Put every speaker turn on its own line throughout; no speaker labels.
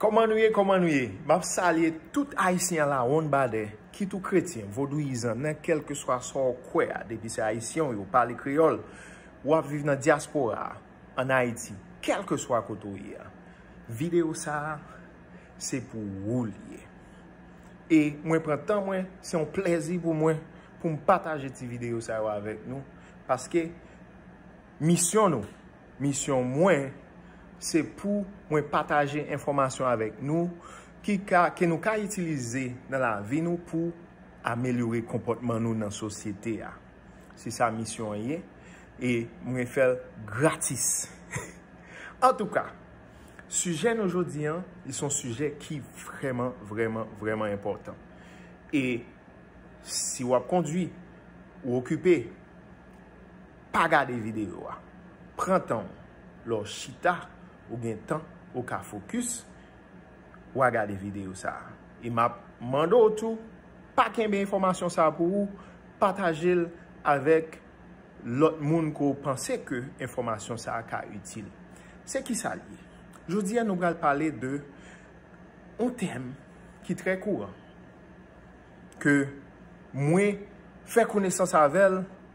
Kòman nou ye kòman nou ye map salye tout ayisyen ala wonn badè kit ou kretyen vodouyizan nan kèlkeswa sa w kwè a depi se ayisyen w ye w pale kreyòl ou ap viv nan dyaspora a an ayiti kèlkeswa kote w ye a video sa se pou ou li ye e mwen pran tan mwen se yon plèzi pou mwen pou m pataje ti video sa yo avèk nou paske misyon nou. Misyon mwen, se pou mwen pataje enfòmasyon avèk nou ki ka, ke nou ka itilize nan lavi nou pou amelyore konpòtman nou nan sosyete a. Se sa misyon an ye, e mwen fèl gratis. Antouka, sijè nou jodi an, li son sijè ki vrèman, vrèman, vrèman enpòtan. E si wap kondwi, ou okipe, Pa gade videyo a. Pran tan w. Lè w chita, ou gen tan, ou ka fokis, wa gade videyo sa a. E m ap mande w tou, pa kenbe enfòmasyon sa a pou ou, pataje l avèk lòt moun ke w panse ke enfòmasyon sa a ka itil. Se kisa l ye? Jodi a nou pral pale de yon tèm ki trè kouran, ke mwen fè konesans avè l,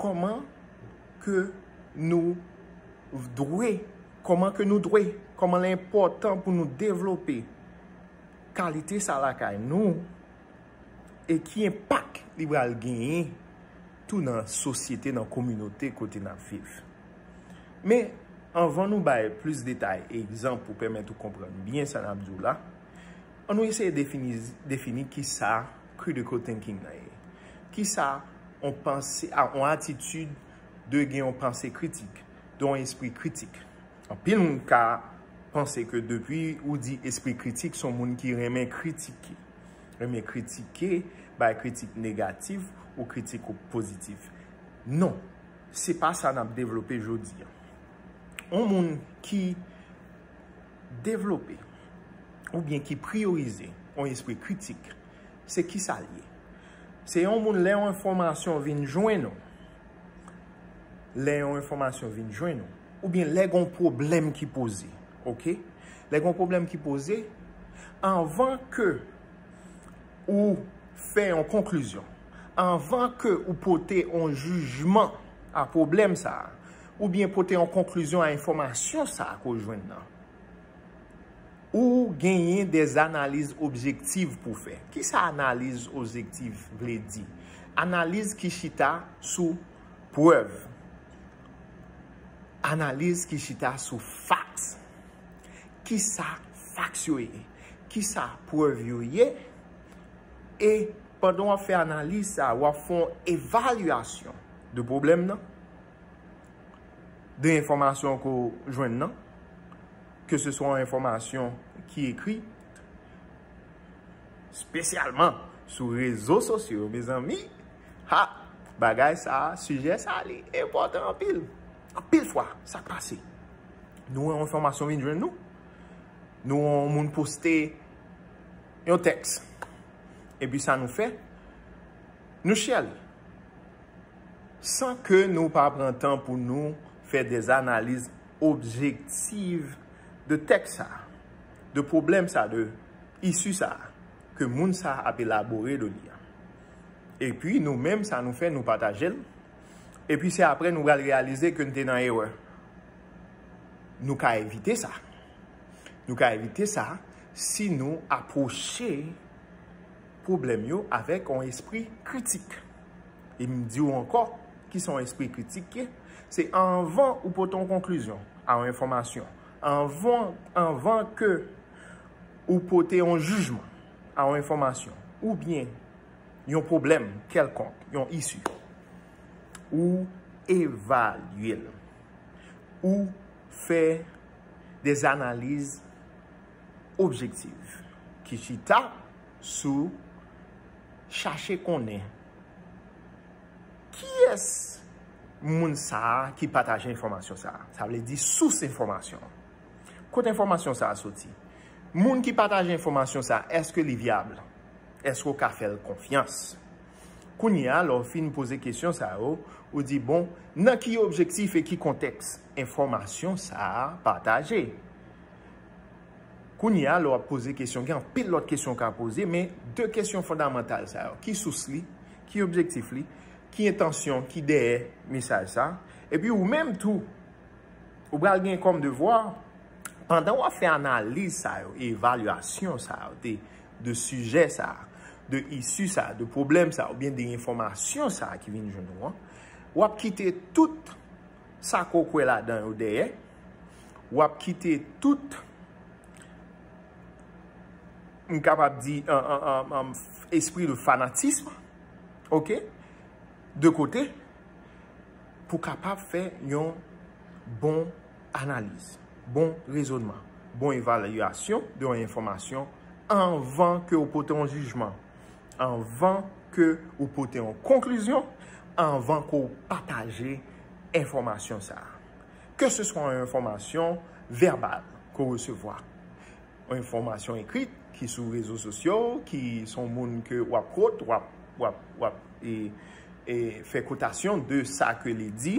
Kòman ke nou dwe, kòman ke nou dwe, kòman lè enpòtan pou nou devlope kalite sa lakay nou e ki enpak li pral genyen tou nan sosyete, nan kominote kote nap viv. Men, anvan nou bay plis detay e egzanp pou pèmèt ou konprann byen sa nap di w la, an nou eseye defini kisa. Critical thinking nan ye? Kisa on panse, on atitid de gen yon panse kritik, de yon espri kritik? Anpil moun ka panse ke depi ou di espri kritik son moun ki renmen kritike. Renmen kritike, bay kritik negatif ou kritik ou pozitif. Non, se pa sa nap devlope jodi an. On moun ki Devlope, oubyen ki priyorize, yon espri kritik, se kisa l ye? Se yon moun lè yon enfòmasyon vin jwenn ou, lè yon enfòmasyon vin jwenn ou, oubyen lè gen yon pwoblèm ki poze, ok? Lè gen yon pwoblèm ki poze, anvan ke ou fè yon konklizyon, anvan ke ou pote yon jijman a pwoblèm sa a, Oubyen pote yon konklizyon a enfòmasyon sa a ke w jwenn nan. Ou genyen de analiz objektiv pou w fè. Kisa analiz objektiv vle di? Analiz ki chita sou prèv. Analiz ki chita sou faks. Kisa faks yo ye? Kisa prèv yo ye? E pandan w ap fè analiz sa a, w ap fè yon evalyasyon de pwoblèm nan. de enfòmasyon ke w jwenn nan, ke se swa yon enfòmasyon ki ekri, spesyalman sou rezo sosyo, mezanmi, ha, bagay sa, sijè sa li enpòtan anpil. Anpil fwa, sa k pase? Nou wè yon enfòmasyon vin jwenn nou, nou wè yon moun poste yon tèks, epi sa nou fè, nou share li. San ke nou pa pran tan pou nou fè des analiz objektiv de tèks sa, de pwoblèm sa, de issu sa ke moun sa ap elabore de li a. E pi nou menm sa nou fè nou pataje l, e pi se apre nou pral reyalize ke n te nan erè. Nou ka evite sa. Nou ka evite sa si nou apwoche pwoblèm yo avèk yon espri kritik. E m di w ankò, ki sa yon espri kritik ye? Se anvan ou pote yon konklizyon a yon enfòmasyon, anvan ke ou pote yon jijman a yon enfòmasyon, oubyen yon pwoblèm kèlkonk, yon isi, ou evalye l. Ou fè des analiz objektiv ki chita. sou chache konnen kiyès moun sa a ki pataje enfòmasyon sa a. Sa vle di sous enfòmasyon an. Kote enfòmasyon sa a soti? Moun ki pataje enfòmasyon sa a, èske li vyab? Èske ou ka fè l konfyans? Kounye a, lè ou fin poze kesyon sa yo, ou di, bon, nan ki objektif e ki kontèks enfòmasyon sa a pataje? Kounye a, lè w ap poze kesyon, gen anpil lòt kesyon w ka poze, men de kesyon fondamantal sa yo, ki sous li, ki objektif li, ki entansyon ki dèyè mesaj sa? Epi ou menm tou, ou pral gen kòm devwa, pandan w ap fè analiz sa yo, evalyasyon sa yo, de sijè sa, de isi sa, de pwoblèm sa, oubyen de enfòmasyon sa ki vin joun ou an, w ap kite tout. Sa ke w kwè ladan yo dèyè. W ap kite tout, m kapab di, espri de fanatism, ok, de kote, pou kapab fè yon bon analiz, bon rezonman, bon evalyasyon de yon enfòmasyon anvan ke w pote yon jijman. Anvan ke ou pote yon konklizyon, anvan ke ou pataje enfòmasyon sa a. Ke se swa yon enfòmasyon vèbal ke ou resevwa, yon enfòmasyon ekri ki sou rezo sosyo, ki son moun ke ou ap kwote, ou ap fè kwotasyon de sa ke li di.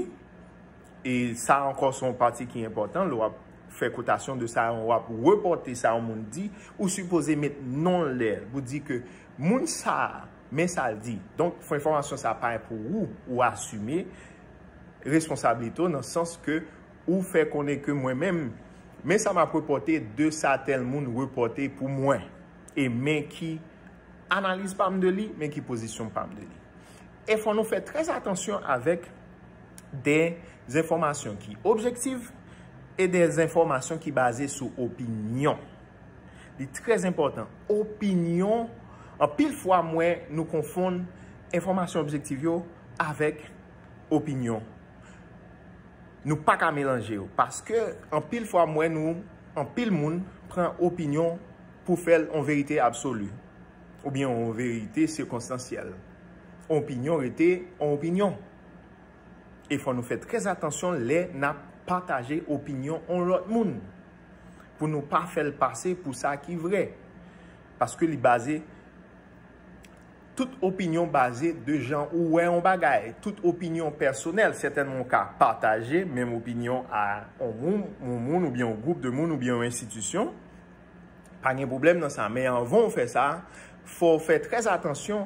E sa ankò se yon pati ki enpòtan lè w ap fè kotasyon de sa yon w ap repòte sa yon moun di, ou sipoze met non l dèyè l pou di ke moun sa a men sa l di. Donk fo enfòmasyon sa a pa pou ou, ou asime responsablite w nan sans ke ou fè konnen ke mwen menm men sa m ap repòte de sa tèl moun repòte pou mwen e men ki analiz pa m de li, men ki pozisyon pa m de li. E fò nou fè trè atansyon avèk de zenfòmasyon ki objektiv e de zenfòmasyon ki baze sou opinyon. Li trè zenpòtan, opinyon, anpil fwa m wè nou konfonn enfòmasyon objektiv yo avèk opinyon. Nou pa ka melanje yo, paske anpil fwa m wè nou, anpil moun pran opinyon pou fè l yon verite absoli. oubyen yon verite sikonstansyèl. Yon opinyon rete yon opinyon. E fò nou fè trè atansyon lè n ap pataje opinyon yon lòt moun, pou nou pa fè l pase pou sa ki vrè. Paske li baze, tout opinyon baze de jan ou wè yon bagay. Tout opinyon pèsonèl, sètènman ou ka pataje menm opinyon a yon moun oubyen yon gwoup de moun oubyen yon enstitisyon. Pa gen pwoblèm nan sa, men anvan ou fè sa, fò ou fè trè atansyon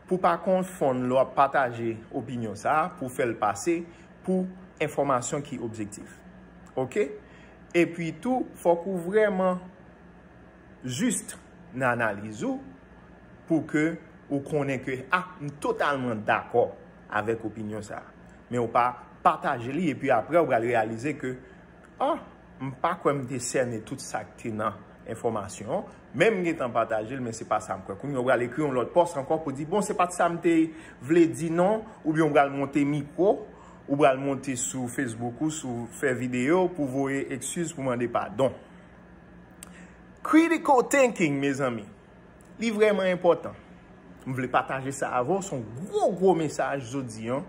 pou pa konfonn lè w ap pataje opinyon sa a pou fè l pase pou enfòmasyon ki objektif. Ok? Epi tou, fòk ou vrèman jis nan analiz ou pou ke ou konnen ke a, m totalman dakò avèk opinyon sa a. Men ou pa pataje li epi aprè ou pral reyalize ke Ah! M pa kwè m te sène tout sa k te nan enfòmasyon an, men m gentan pataje l, men se pa sa m kwè. Kounye a ou pral ekri yon lòt pòs ankò pou di, bon se pa t sa m te vle di non, oubyen ou pral monte mikwo, ou pral monte sou Facebook ou, sou fè videyo pou voye ekskiz, pou mande padon. Critical thinking mezanmi, li vrèman enpòtan. M vle pataje sa avè w, s on gwo gwo mesaj jodi an.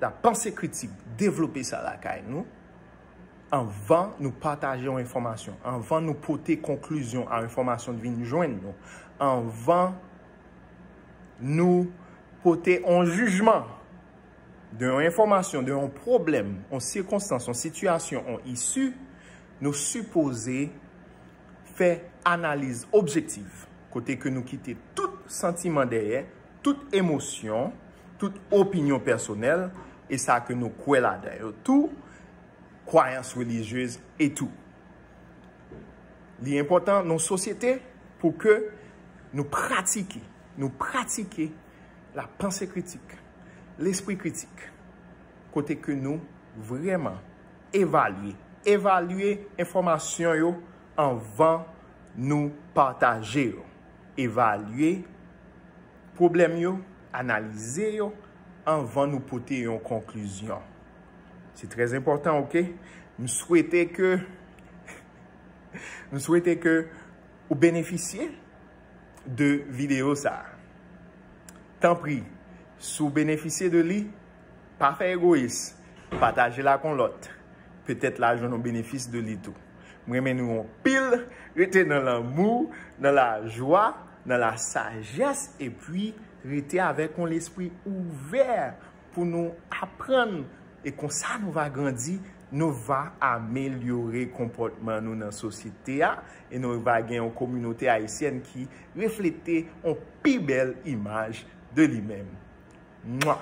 La panse kritik, devlope sa lakay nou anvan nou pataje yon enfòmasyon, anvan nou pote konklizyon a enfòmasyon ki vin jwenn nou, anvan nou pote yon jijman de yon enfòmasyon, de yon pwoblèm, yon sikonstans, yon sitiyasyon, yon isi, nou sipoze. fè analiz objektif kote ke nou kite tout santiman dèyè, tout emosyon, tout opinyon pèsonèl e sa ke nou kwè ladan yo tou, kwayans relijyez e tou. Li enpòtan nan yon sosyete pou ke nou pratike, nou pratike la panse kritik, lespri kritik kote ke nou vreman Evalye. Evalye enfòmasyon yo anvan nou pataje yo. Evalye pwoblèm yo, analize yo anvan nou pote yon konklizyon. Se trè enpòtan ok. M swete ke M swete ke ou benefisye de videyo sa. Tanpri, si w benefisye de li, Pa fè egoyis, pataje l ak yon lòt, petèt la jwenn yon benefis de li tou. M renmen nou anpil, rete nan lanmou, nan lajwa, nan la sajès epi rete avèk yon lespri ouvè pou nou aprann e konsa nou va grandi, nou va amelyore konpòtman nou nan sosyete a e nou va gen yon kominote ayisyèn ki reflete yon pi bèl imaj de li menm. Mwah!